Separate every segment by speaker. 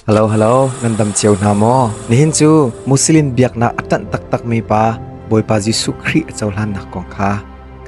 Speaker 1: Halo halo ngandam cio hna maw nihin cu Muslim biaknak a ṭanh taktakmi pa Bawipa Jesuh Khrih a cohlannak kong kha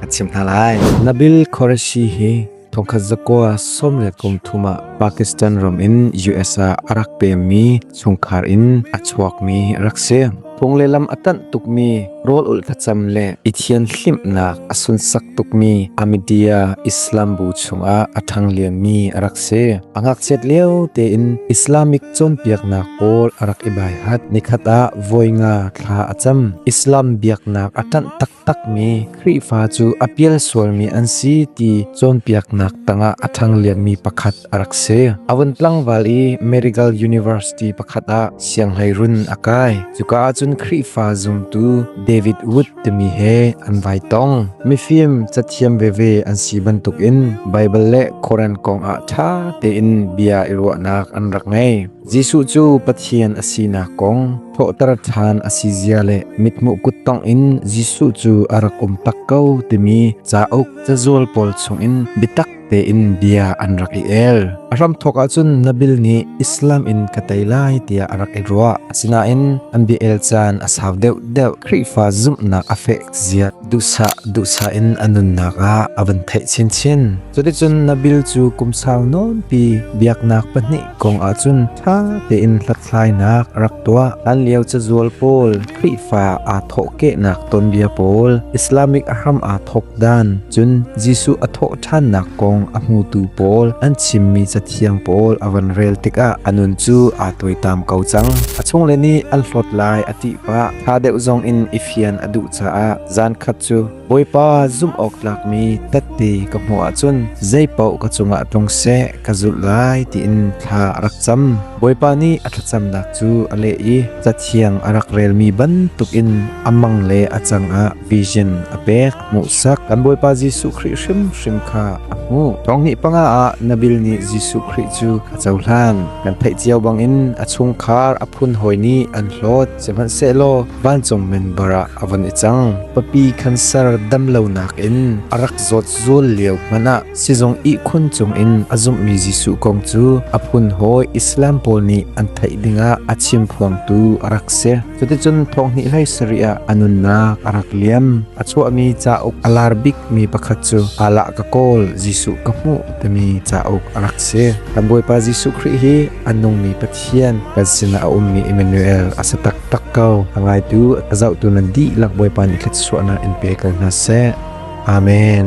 Speaker 1: kan chim hna lai. Nabil Qureshi hi thongkhat zakua som le kum thum ah Pakistan ram in US ah a rak pemmi chungkhar in a chuakmi rak si. phung le lam a tanh tukmi rawl ul thlacam le i thian hlimnak a sunsak tukmi Ahmadiyya Islam bu chungah a ṭhang liammi a rak si. A ngakchiat lio tein Islamic cawnpiaknak pawl a rak i baihat. Nikhat ah voi nga thla a cam. Islam biaknak a ṭanh tak takmi Khrihfa cu a pial sualmi an si ti cawnpiaknak tangah a ṭhanglianmi pakhat a rak si. A vun tlangval i Medical University pakhat ah sianghlei run a kai. Cuka ahcun Khrihfa zumtu David Wood timi he an vai tong. Mifim cathiam veve an si bantukin Baibal le Koran kongah ṭha tein bia i ruahnak an rak ngei. Jesuh cu Pathian a sinak kong thawhter ṭhan a si zia le mithmuh kut tongin Jesuh cu a rak um tak ko timi cauk cazual pawl chungin biatak tein bia an rak i el. A hram thawk ahcun Nabil nih Islam in ka tei lai tiah a rak i ruah. Asinain an bia el caan a sau deuh deuh Khrihfa zumhnak a fek ziat duhsa duhsa in a nunnak ah a van theih chinchin. Cuticun Nabil cu kum sau nawnpi biaknak pahnih kong ahcun ṭha tein hlathlainak a rak tuah. Hlanlio cazual pawl, Khrihfa aa thawhkehnak tonbia pawl, Islamic a hram aa thawk dan, cun Jesuh a thawh ṭhannak kong a hmutu pawl an chimmi cathiang pawl a van rel tikah a nun cu aa tuaitam ko cang. A chungle nih an hlawt lai a ti pah. Ṭha deuh zong in i fian a duh caah zaankhat cu Bawipa zumh awktlak mi tatte ka hmuh ahcun zeipaoh ka cungah tlung seh ka zulh lai tiin thla a rak cam. Bawipa nih a thlacamnak cu a leh i Cathiang a rak relmi bantukin a mang le a cangah vision a pek hmuhsak. Kan Bawipa Jesuh Khrih hrimhrim kha a hmuh. Thong hnih panga ah Nabil nih Jesuh Khrih cu a cohlan. Kan theih cio bangin a chungkhar a phun hawi nih an hlawt. Sihmanhsehlaw vancung minbar ah a von i cang. Papi khanser dam lonak in a rak zawt zul lio hmanh ah sizung ihkhun cungin a zumhmi Jesuh kong cu a phun hawi Islam pawl nih an theih dingah a chimphuangtu a rak si. Cuticun thonghnih hlei sarih ah a nunnak a rak liam. A chuahmi cauk a lar bikmi pakhat cu Alah ka kawl Jesuh ka hmuh timi cauk a rak si. Kan Bawipa Jesuh Khrih hi a nungmi Pathian Pathian kan sinah a ummi Emmanuel a si taktak ko. Ka ngaitu ka zohtu nan dihlak Bawipa nih thluachuahnak in pe ko hna seh. Amen.